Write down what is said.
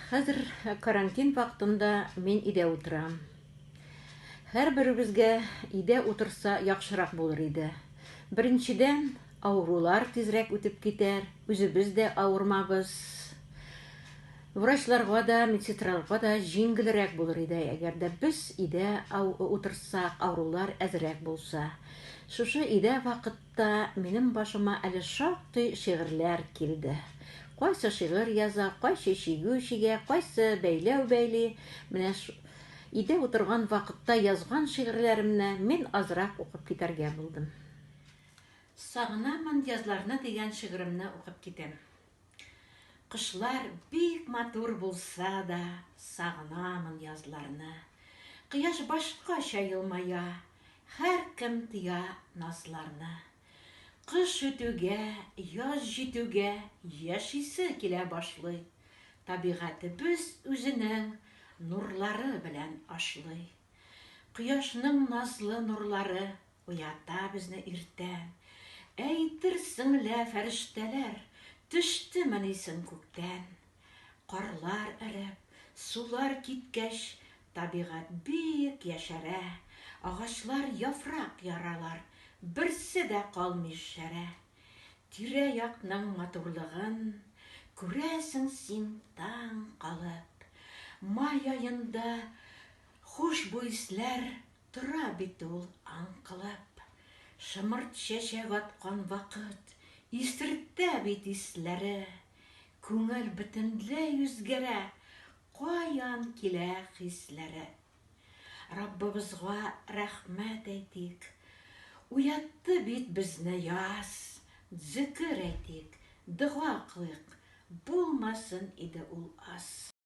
Хәзер карантин вакытында мин өйдә утырам. Һәрберебезгә өйдә утырса яхшырак булыр иде. Беренчедән, авырулар тизрәк үтеп китәр, үзебез дә авырмабыз. Врачларга да, медсестраларга да җиңгелрәк булыр иде, әгәр дә без өйдә утырсак, авырулар әзрәк булса. Шушы өйдә вакыт та минем башыма әле шактый шигырьләр килде. Кайсы шигырь яза, кайчы чигү чигә, кайсы бәйләү бәйли. Менә өйдә утырган вакытта язган шигырьләремне мин азрак укып китәргә булдым. Сагынамын язларны дигән шигыремне укып китәм. Кышлар бик матур булса да, Сагынамын язларны. Кояш башкача елмая, Һәркем тоя назларны. Кыш үтүгә, яз җитүгә, Яшисе килә башлый. Табигатебез үзенең Нурлары белән ашлый. Кояшның назлы нурлары Уята безне иртә. Әйтерсең лә фәрештәләр Төштемени соң күктән. Карлар эреп, сулар киткәч, Табигать бик яшәрә. Агачлар яфрак яралар, Берсе дә калмый шәрә. Тирә-якның матурлыгын Күрәсең син таң калып. Май аенда хушбуй исләр Тора бит ул аңкылап. Шымырт чәчәк аткан вакыт. Исертә бит исләре. Күңел бөтенләй үзгәрә. Каян килә хисләре. Раббыбызга рәхмәт әйтик. Уятты бит безне яз. Зөкер әйтик, дога кылыйк. Булмасын иде ул аз.